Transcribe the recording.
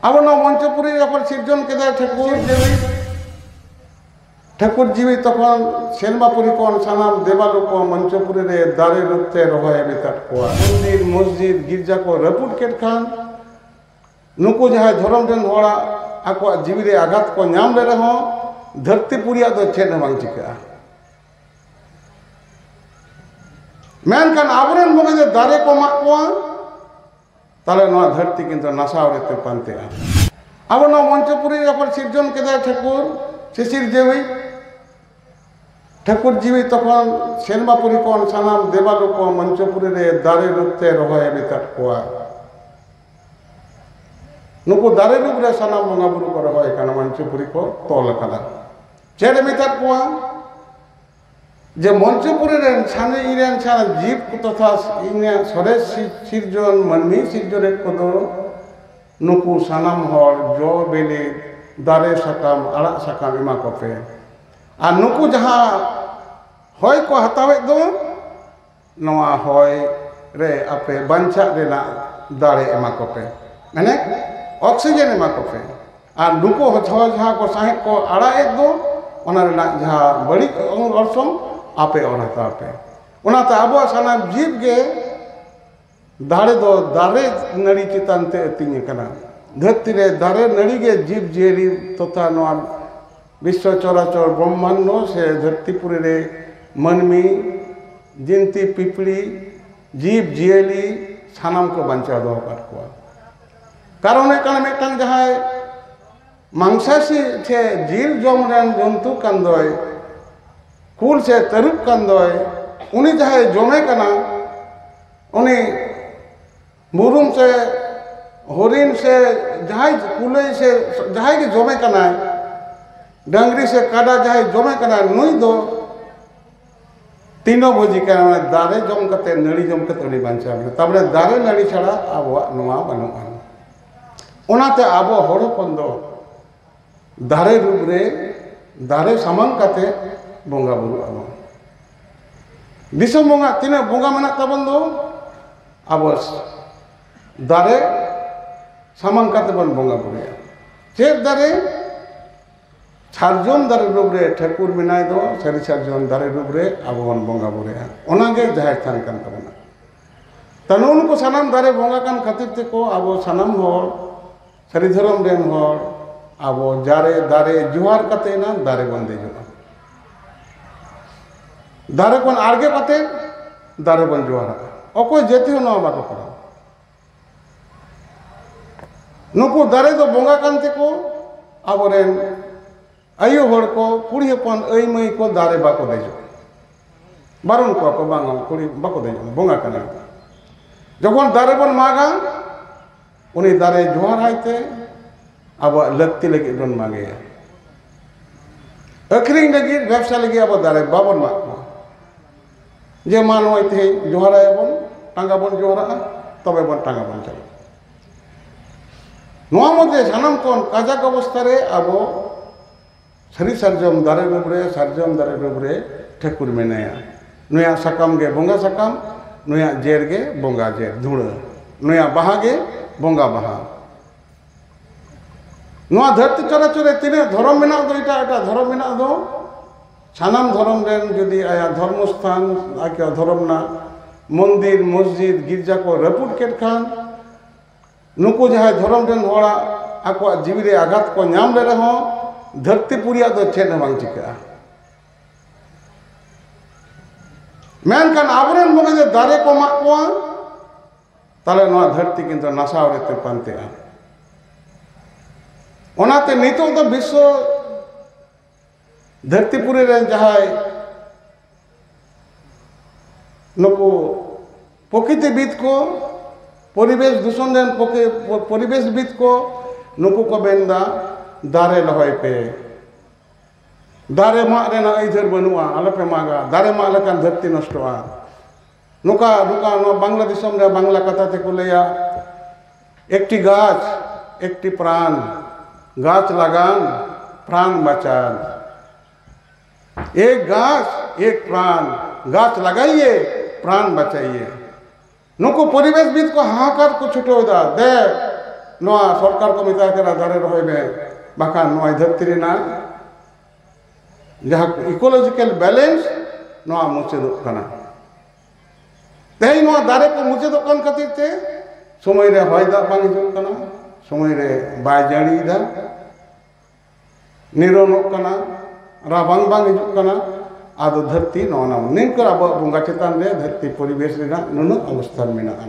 ᱟᱵᱚ ᱱᱚᱣᱟ ᱢᱚᱧᱪᱚᱯᱩᱨᱤ ᱨᱮ ᱡᱚᱠᱷᱚᱱ ᱥᱤᱨᱡᱚᱱ ᱠᱮᱫᱟᱭ ᱴᱷᱟᱹᱠᱩᱨ ᱡᱤᱣᱤ ᱴᱷᱟᱹᱠᱩᱨ ᱡᱤᱣᱤ ᱛᱚᱠᱷᱚᱱ ᱥᱮᱱᱵᱟᱯᱩᱨᱤ ᱠᱷᱚᱱ ᱥᱟᱱᱟᱢ ᱫᱮᱵᱟᱞᱳᱠ ᱠᱚ ᱢᱚᱧᱪᱚᱯᱩᱨᱤ ᱨᱮ ᱫᱟᱨᱮ ᱨᱩᱯ ᱛᱮ ᱨᱚᱦᱚᱭ ᱟᱹᱜᱩ ᱠᱟᱫ ᱠᱚᱣᱟ ᱢᱚᱱᱫᱤᱨ ᱢᱚᱥᱡᱤᱫ ᱜᱤᱨᱡᱟ ᱠᱚ ᱨᱟᱹᱯᱩᱫ ᱠᱮᱫ ᱠᱷᱟᱱ ᱱᱩᱠᱩ ᱡᱟᱦᱟᱸᱭ ᱫᱷᱚᱨᱚᱢ ᱨᱮᱱ ᱦᱚᱲᱟᱜ ᱟᱠᱚᱣᱟᱜ ᱡᱤᱣᱤ ᱨᱮ ᱟᱜᱷᱟᱛ ᱠᱚ ᱧᱟᱢ ᱞᱮ ᱨᱮᱦᱚᱸ ᱫᱷᱟᱹᱨᱛᱤ ᱯᱩᱨᱤᱭᱟᱜ ᱫᱚ ᱪᱮᱫ ᱦᱚᱸ ᱵᱟᱝ ᱪᱤᱠᱟᱹᱜᱼᱟ ᱢᱮᱱᱠᱷᱟᱱ ᱟᱵᱚᱨᱮᱱ ᱵᱚᱸᱜᱟ ᱫᱚ ᱫᱟᱨᱮ ᱠᱚ ᱢᱟᱜ ᱠᱚᱣᱟ ᱛᱟᱦᱚᱞᱮ ᱱᱚᱣᱟ ᱫᱷᱟᱹᱨᱛᱤ ᱠᱤᱱᱛᱩ ᱱᱟᱥᱟᱣ ᱨᱮᱛᱮ ᱯᱟᱱᱛᱮᱜᱼᱟ ᱟᱵᱚ ᱱᱚᱣᱟ ᱢᱚᱧᱪᱚᱯᱩᱨᱤ ᱡᱚᱠᱷᱚᱱ ᱥᱤᱨᱡᱚᱱ ᱠᱮᱫᱟᱭ ᱴᱷᱟᱹᱠᱩᱨ ᱥᱮ ᱥᱤᱨᱡᱟᱹᱣᱤ ᱴᱷᱟᱹᱠᱩᱨ ᱡᱤᱣᱤ ᱛᱚᱠᱷᱚᱱ ᱥᱮᱨᱢᱟ ᱯᱩᱨᱤ ᱠᱷᱚᱱ ᱥᱟᱱᱟᱢ ᱫᱮᱵᱟᱞᱳ ᱠᱚ ᱢᱚᱧᱪᱚᱯᱩᱨᱤ ᱨᱮ ᱫᱟᱨᱮ ᱨᱩᱯ ᱛᱮ ᱨᱚᱦᱚᱭ ᱢᱮᱛᱟᱫ ᱠᱚᱣᱟ ᱱᱩᱠᱩ ᱫᱟᱨᱮ ᱨᱩᱯ ᱨᱮ ᱥᱟᱱᱟᱢ ᱵᱚᱸᱜᱟ ᱵᱩᱨᱩ ᱠᱚ ᱨᱚᱦᱚᱭ ᱠᱟᱱᱟ ᱢᱚᱧᱪᱚᱯᱩᱨᱤ ᱠᱚ ᱛᱚᱞ ᱠᱟᱫᱟ ᱪᱮᱫ ᱢᱮᱛᱟᱫ ᱠᱚᱣᱟ ᱡᱮ ᱢᱚᱧᱪᱚᱯᱩᱨᱤ ᱨᱮᱱ ᱥᱟᱱᱮ ᱤᱧ ᱨᱮᱱ ᱥᱟᱱᱮ ᱡᱤᱵᱽ ᱠᱚ ᱛᱚᱛᱷᱟ ᱤᱧᱟᱹᱜ ᱥᱚᱨᱮᱥ ᱥᱤᱨᱡᱚᱱ ᱢᱟᱹᱱᱢᱤ ᱥᱤᱨᱡᱚᱱᱮᱫ ᱠᱚᱫᱚ ᱱᱩᱠᱩ ᱥᱟᱱᱟᱢ ᱦᱚᱲ ᱡᱚ ᱵᱤᱞᱤ ᱫᱟᱨᱮ ᱥᱟᱠᱟᱢ ᱟᱲᱟᱜ ᱥᱟᱠᱟᱢ ᱮᱢᱟ ᱠᱚᱯᱮ ᱟᱨ ᱱᱩᱠᱩ ᱡᱟᱦᱟᱸ ᱦᱚᱭ ᱠᱚ ᱦᱟᱛᱟᱣᱮᱫ ᱫᱚ ᱱᱚᱣᱟ ᱦᱚᱭ ᱨᱮ ᱟᱯᱮ ᱵᱟᱧᱪᱟᱜ ᱨᱮᱱᱟᱜ ᱫᱟᱲᱮ ᱮᱢᱟ ᱠᱚᱯᱮ ᱢᱟᱱᱮ ᱚᱠᱥᱤᱡᱮᱱ ᱮᱢᱟ ᱠᱚᱯᱮ ᱟᱨ ᱱᱩᱠᱩ ᱦᱚᱸ ᱡᱟᱦᱟᱸ ᱠᱚ ᱥᱟᱦᱮᱸᱫ ᱠᱚ ᱟᱲᱟᱜ ᱮᱫ ᱫᱚ ᱚᱱᱟ ᱨᱮᱱᱟᱜ ᱡᱟᱦᱟᱸ ᱵᱟᱹᱲᱤᱡ ᱚᱨᱥᱚᱝ ᱟᱯᱮ ᱚᱨ ᱦᱟᱛᱟᱲ ᱯᱮ ᱚᱱᱟᱛᱮ ᱟᱵᱚᱣᱟᱜ ᱥᱟᱱᱟᱢ ᱡᱤᱵᱽ ᱜᱮ ᱫᱟᱲᱮ ᱫᱚ ᱫᱟᱨᱮ ᱱᱟᱹᱲᱤ ᱪᱮᱛᱟᱱ ᱛᱮ ᱟᱹᱛᱤᱧ ᱟᱠᱟᱱᱟ ᱫᱷᱟᱹᱨᱛᱤ ᱨᱮ ᱫᱟᱨᱮ ᱱᱟᱹᱲᱤ ᱜᱮ ᱡᱤᱵᱽ ᱡᱤᱭᱟᱹᱞᱤ ᱛᱚᱛᱷᱟ ᱱᱚᱣᱟ ᱵᱤᱥᱥᱚ ᱪᱚᱨᱟᱪᱚᱨ ᱵᱨᱚᱢᱢᱟᱱᱰᱚ ᱥᱮ ᱫᱷᱟᱹᱨᱛᱤ ᱯᱩᱨᱤ ᱨᱮ ᱢᱟᱹᱱᱢᱤ ᱡᱤᱱᱛᱤ ᱯᱤᱯᱤᱲᱤ ᱡᱤᱵᱽ ᱡᱤᱭᱟᱹᱞᱤ ᱥᱟᱱᱟᱢ ᱠᱚ ᱵᱟᱧᱪᱟᱣ ᱫᱚᱦᱚ ᱟᱠᱟᱫ ᱠᱚᱣᱟ ᱠᱟᱨᱚᱱ ᱦᱩᱭᱩᱜ ᱠᱟᱱᱟ ᱢᱤᱫᱴᱟᱱ ᱡᱟᱦᱟᱸᱭ ᱢᱟᱝᱥᱟᱥᱤ ᱥᱮ ᱡᱤᱞ ᱡᱚᱢ ᱨᱮᱱ ᱡᱚᱱᱛᱩ ᱠᱟᱱ ᱫᱚᱭ ᱠᱩᱞ ᱥᱮ ᱛᱟᱹᱨᱩᱵ ᱠᱟᱱ ᱫᱚᱭ ᱩᱱᱤ ᱡᱟᱦᱟᱸᱭ ᱡᱚᱢᱮ ᱠᱟᱱᱟ ᱩᱱᱤ ᱵᱩᱨᱩᱢ ᱥᱮ ᱦᱚᱨᱤᱱ ᱥᱮ ᱡᱟᱦᱟᱸᱭ ᱠᱩᱞᱟᱹᱭ ᱥᱮ ᱡᱟᱦᱟᱸᱭ ᱜᱮ ᱡᱚᱢᱮ ᱠᱟᱱᱟᱭ ᱰᱟᱹᱝᱨᱤ ᱥᱮ ᱠᱟᱰᱟ ᱡᱟᱦᱟᱸᱭ ᱡᱚᱢᱮ ᱠᱟᱱᱟᱭ ᱱᱩᱭ ᱫᱚ ᱛᱤᱱᱚ ᱵᱷᱳᱡᱤ ᱠᱟᱱᱟ ᱢᱟᱱᱮ ᱫᱟᱨᱮ ᱡᱚᱢ ᱠᱟᱛᱮ ᱱᱟᱹᱲᱤ ᱡᱚᱢ ᱠᱟᱛᱮ ᱩᱱᱤ ᱵᱟᱧᱪᱟᱣ ᱢᱮᱱᱟᱭᱟ ᱛᱟᱨᱢᱟᱱᱮ ᱫᱟᱨᱮ ᱱᱟᱹᱲᱤ ᱪᱷᱟᱲᱟ ᱟᱵᱚᱣᱟᱜ ᱱᱚᱣᱟ ᱵᱟᱹᱱᱩᱜᱼᱟ ᱚᱱᱟᱛᱮ ᱟᱵᱚ ᱦᱚᱲ ᱦᱚᱯᱚᱱ ᱫᱚ ᱫᱟᱨᱮ ᱨᱩᱯ ᱨᱮ ᱫᱟᱨᱮ ᱥᱟᱢᱟᱝ ᱠᱟᱛᱮ ᱵᱚᱸᱜᱟ ᱵᱩᱨᱩᱜ ᱟᱵᱚᱱ ᱫᱤᱥᱚᱢ ᱵᱚᱸᱜᱟ ᱛᱤᱱᱟᱹᱜ ᱵᱚᱸᱜᱟ ᱢᱮᱱᱟᱜ ᱛᱟᱵᱚᱱ ᱫᱚ ᱟᱵᱚ ᱫᱟᱨᱮ ᱥᱟᱢᱟᱝ ᱠᱟᱛᱮ ᱵᱚᱱ ᱵᱚᱸᱜᱟ ᱵᱩᱨᱩᱭᱟ ᱪᱮᱫ ᱫᱟᱨᱮ ᱥᱟᱨᱡᱚᱢ ᱫᱟᱨᱮ ᱰᱩᱵ ᱨᱮ ᱴᱷᱟᱹᱠᱩᱨ ᱢᱮᱱᱟᱭ ᱫᱚ ᱥᱟᱹᱨᱤ ᱥᱟᱨᱡᱚᱢ ᱫᱟᱨᱮ ᱰᱩᱵ ᱨᱮ ᱟᱵᱚ ᱵᱚᱱ ᱵᱚᱸᱜᱟ ᱵᱩᱨᱩᱭᱟ ᱚᱱᱟᱜᱮ ᱡᱟᱦᱮᱨ ᱛᱷᱟᱱ ᱠᱟᱱ ᱛᱟᱵᱚᱱᱟ ᱛᱚ ᱱᱩᱜᱼᱩ ᱱᱩᱠᱩ ᱥᱟᱱᱟᱢ ᱫᱟᱨᱮ ᱵᱚᱸᱜᱟ ᱠᱟᱱ ᱠᱷᱟᱹᱛᱤᱨ ᱛᱮᱠᱚ ᱟᱵᱚ ᱥᱟᱱᱟᱢ ᱦᱚᱲ ᱥᱟᱹᱨᱤ ᱫᱷᱚᱨᱚᱢ ᱨᱮᱱ ᱦᱚᱲ ᱟᱵᱚ ᱡᱟᱨᱮ ᱫᱟᱨᱮ ᱡᱚᱦᱟᱨ ᱠᱟᱛᱮ ᱮᱱᱟᱝ ᱫᱟᱨᱮ ᱵᱚᱱ ᱫᱮᱡᱚᱜᱼᱟ ᱫᱟᱨᱮ ᱠᱷᱚᱱ ᱟᱬᱜᱚ ᱠᱟᱛᱮ ᱫᱟᱨᱮ ᱵᱚᱱ ᱡᱚᱦᱟᱨᱟᱜᱼᱟ ᱚᱠᱚᱭ ᱡᱟᱹᱛᱤ ᱦᱚᱸ ᱱᱚᱣᱟ ᱵᱟᱠᱚ ᱠᱚᱨᱟᱣᱟ ᱱᱩᱠᱩ ᱫᱟᱨᱮ ᱫᱚ ᱵᱚᱸᱜᱟ ᱠᱟᱱ ᱛᱮᱠᱚ ᱟᱵᱚᱨᱮᱱ ᱟᱭᱳ ᱦᱚᱲ ᱠᱚ ᱠᱩᱲᱤ ᱦᱚᱯᱚᱱ ᱟᱹᱭ ᱢᱟᱹᱭ ᱠᱚ ᱫᱟᱨᱮ ᱵᱟᱠᱚ ᱫᱮᱡᱚᱜᱼᱟ ᱵᱟᱨᱚᱱ ᱠᱚᱣᱟ ᱠᱚ ᱵᱟᱝ ᱠᱩᱲᱤ ᱵᱟᱠᱚ ᱫᱮᱡᱚᱜᱼᱟ ᱵᱚᱸᱜᱟ ᱠᱟᱱᱟ ᱡᱚᱠᱷᱚᱱ ᱫᱟᱨᱮ ᱵᱚᱱ ᱢᱟᱜᱟ ᱩᱱᱤ ᱫᱟᱨᱮ ᱡᱚᱦᱟᱨ ᱟᱭ ᱛᱮ ᱟᱵᱚᱣᱟᱜ ᱞᱟᱹᱠᱛᱤ ᱞᱟᱹᱜᱤᱫ ᱵᱚᱱ ᱢᱟᱜᱮᱭᱟ ᱟᱹᱠᱷᱨᱤᱧ ᱞᱟᱹᱜᱤᱫ ᱵᱮᱵᱽᱥᱟ ᱞᱟᱹᱜᱤᱫ ᱟᱵᱚ ᱫᱟᱨᱮ ᱵᱟᱵᱚᱱ ᱢᱟᱜ ᱠᱚᱣᱟ ᱡᱮ ᱢᱟ ᱱᱚᱜᱼᱚᱭ ᱛᱮᱦᱮᱧ ᱡᱚᱦᱟᱨ ᱟᱭᱟ ᱵᱚᱱ ᱴᱟᱸᱜᱟ ᱵᱚᱱ ᱡᱚᱦᱟᱨᱟᱜᱼᱟ ᱛᱚᱵᱮ ᱵᱚᱱ ᱴᱟᱸᱜᱟ ᱵᱚᱱ ᱪᱟᱞᱟᱜᱼᱟ ᱱᱚᱣᱟ ᱢᱚᱫᱽᱫᱷᱮ ᱥᱟᱱᱟᱢ ᱠᱷᱚᱱ ᱠᱟᱡᱟᱠ ᱚᱵᱚᱥᱛᱷᱟ ᱨᱮ ᱟᱵᱚ ᱥᱟᱹᱨᱤ ᱥᱟᱨᱡᱚᱢ ᱫᱟᱨᱮ ᱰᱩᱵ ᱨᱮ ᱥᱟᱨᱡᱚᱢ ᱫᱟᱨᱮ ᱰᱩᱵ ᱨᱮ ᱴᱷᱟᱹᱠᱩᱨ ᱢᱮᱱᱟᱭᱟ ᱱᱩᱭᱟᱜ ᱥᱟᱠᱟᱢ ᱜᱮ ᱵᱚᱸᱜᱟ ᱥᱟᱠᱟᱢ ᱱᱩᱭᱟᱜ ᱡᱮᱨ ᱜᱮ ᱵᱚᱸᱜᱟ ᱡᱮᱨ ᱫᱷᱩᱬᱟᱹ ᱱᱩᱭᱟᱜ ᱵᱟᱦᱟ ᱜᱮ ᱵᱚᱸᱜᱟ ᱵᱟᱦᱟ ᱱᱚᱣᱟ ᱫᱷᱟᱹᱨᱛᱤ ᱪᱚᱨᱟᱪᱚᱨ ᱨᱮ ᱛᱤᱱᱟᱹᱜ ᱫᱷᱚᱨᱚᱢ ᱢᱮᱱᱟᱜ ᱫᱚ ᱮᱴᱟᱜ ᱮᱴᱟᱜ ᱫᱷᱚᱨᱚᱢ ᱢᱮᱱᱟᱜ ᱫᱚ ᱥᱟᱱᱟᱢ ᱫᱷᱚᱨᱚᱢ ᱨᱮᱱ ᱡᱩᱫᱤ ᱟᱭᱟᱜ ᱫᱷᱚᱨᱢᱚ ᱥᱛᱷᱟᱱ ᱟᱭᱟᱜ ᱫᱷᱚᱨᱚᱢ ᱨᱮᱱᱟᱜ ᱢᱚᱱᱫᱤᱨ ᱢᱚᱥᱡᱤᱫ ᱜᱤᱨᱡᱟ ᱠᱚ ᱨᱟᱹᱯᱩᱫ ᱠᱮᱫ ᱠᱷᱟᱱ ᱱᱩᱠᱩ ᱡᱟᱦᱟᱸᱭ ᱫᱷᱚᱨᱚᱢ ᱨᱮᱱ ᱦᱚᱲᱟᱜ ᱟᱠᱚᱣᱟᱜ ᱡᱤᱣᱤ ᱨᱮ ᱟᱜᱷᱟᱛ ᱠᱚ ᱧᱟᱢ ᱞᱮ ᱨᱮᱦᱚᱸ ᱫᱷᱟᱹᱨᱛᱤ ᱯᱩᱨᱤᱭᱟᱜ ᱫᱚ ᱪᱮᱫ ᱦᱚᱸ ᱵᱟᱝ ᱪᱤᱠᱟᱹᱜᱼᱟ ᱢᱮᱱᱠᱷᱟᱱ ᱟᱵᱚᱨᱮᱱ ᱵᱚᱸᱜᱟ ᱫᱚ ᱫᱟᱨᱮ ᱠᱚ ᱢᱟᱜ ᱠᱚᱣᱟ ᱛᱟᱦᱚᱞᱮ ᱱᱚᱣᱟ ᱫᱷᱟᱹᱨᱛᱤ ᱠᱤᱱᱛᱩ ᱱᱟᱥᱟᱣ ᱨᱮᱛᱮ ᱯᱟᱱᱛᱮᱜᱼᱟ ᱚᱱᱟᱛᱮ ᱱᱤᱛᱚᱜ ᱫᱚ ᱵᱤᱥᱥᱚ ᱫᱷᱟᱹᱨᱛᱤᱯᱩᱨᱤ ᱨᱮᱱ ᱡᱟᱦᱟᱸᱭ ᱱᱩᱠᱩ ᱯᱨᱚᱠᱤᱛᱤᱵᱤᱫ ᱠᱚ ᱯᱚᱨᱤᱵᱮᱥ ᱫᱩᱥᱚᱱ ᱨᱮᱱ ᱯᱚᱨᱤᱵᱮᱥᱵᱤᱫ ᱠᱚ ᱱᱩᱠᱩ ᱠᱚ ᱢᱮᱱᱫᱟ ᱫᱟᱨᱮ ᱨᱚᱦᱚᱭ ᱯᱮ ᱫᱟᱨᱮ ᱢᱟᱜ ᱨᱮᱱᱟᱜ ᱟᱹᱭᱫᱟᱹᱨ ᱵᱟᱹᱱᱩᱜᱼᱟ ᱟᱞᱚᱯᱮ ᱢᱟᱜᱟ ᱫᱟᱨᱮ ᱢᱟᱜ ᱞᱮᱠᱷᱟᱱ ᱫᱷᱟᱹᱨᱛᱤ ᱱᱚᱥᱴᱚᱜᱼᱟ ᱱᱚᱝᱠᱟ ᱱᱚᱝᱠᱟ ᱱᱚᱣᱟ ᱵᱟᱝᱞᱟ ᱫᱤᱥᱚᱢ ᱨᱮ ᱵᱟᱝᱞᱟ ᱠᱟᱛᱷᱟ ᱛᱮᱠᱚ ᱞᱟᱹᱭᱟ ᱮᱠᱴᱤ ᱜᱟᱪᱷ ᱮᱠᱴᱤ ᱯᱨᱟᱱ ᱜᱟᱪᱷ ᱞᱟᱜᱟᱱ ᱯᱨᱟᱱ ᱵᱟᱪᱟᱱ ᱮᱠ ᱜᱟᱪᱷ ᱮᱠ ᱯᱨᱟᱱ ᱜᱟᱪᱷ ᱞᱟᱜᱟᱭᱤᱭᱮ ᱯᱨᱟᱱ ᱵᱟᱪᱟᱭᱤᱭᱮ ᱱᱩᱠᱩ ᱯᱚᱨᱤᱵᱮᱥ ᱵᱤᱫ ᱠᱚ ᱦᱟᱦᱟᱠᱟᱨ ᱠᱚ ᱪᱷᱩᱴᱟᱹᱣᱫᱟ ᱫᱮ ᱱᱚᱣᱟ ᱥᱚᱨᱠᱟᱨ ᱠᱚ ᱢᱮᱛᱟᱭ ᱠᱟᱱᱟ ᱫᱟᱨᱮ ᱨᱚᱦᱚᱭ ᱢᱮ ᱵᱟᱠᱷᱟᱱ ᱱᱚᱣᱟ ᱫᱷᱟᱹᱨᱛᱤ ᱨᱮᱱᱟᱜ ᱡᱟᱦᱟᱸ ᱤᱠᱳᱞᱚᱡᱤᱠᱮᱞ ᱵᱮᱞᱮᱱᱥ ᱱᱚᱣᱟ ᱢᱩᱪᱟᱹᱫᱚᱜ ᱠᱟᱱᱟ ᱛᱮᱦᱮᱧ ᱱᱚᱣᱟ ᱫᱟᱨᱮ ᱠᱚ ᱢᱩᱪᱟᱹᱫᱚᱜ ᱠᱟᱱ ᱠᱷᱟᱹᱛᱤᱨ ᱛᱮ ᱥᱚᱢᱚᱭ ᱨᱮ ᱦᱚᱭ ᱫᱟᱜ ᱵᱟᱝ ᱦᱤᱡᱩᱜ ᱠᱟᱱᱟ ᱥᱚᱢᱚᱭ ᱨᱮ ᱵᱟᱭ ᱡᱟᱹᱲᱤᱭᱮᱫᱟ ᱱᱤᱨᱚᱱᱚᱜ ᱠᱟᱱᱟ ᱨᱟᱵᱟᱝ ᱵᱟᱝ ᱦᱤᱡᱩᱜ ᱠᱟᱱᱟ ᱟᱫᱚ ᱫᱷᱟᱹᱨᱛᱤ ᱱᱚᱜᱼᱚ ᱱᱟ ᱱᱤᱝᱠᱟᱹ ᱟᱵᱚᱣᱟᱜ ᱵᱚᱸᱜᱟ ᱪᱮᱛᱟᱱ ᱨᱮ ᱫᱷᱟᱹᱨᱛᱤ ᱯᱚᱨᱤᱵᱮᱥ ᱨᱮᱱᱟᱜ ᱱᱩᱱᱟᱹᱜ ᱚᱵᱚᱥᱛᱷᱟ ᱢᱮᱱᱟᱜᱼᱟ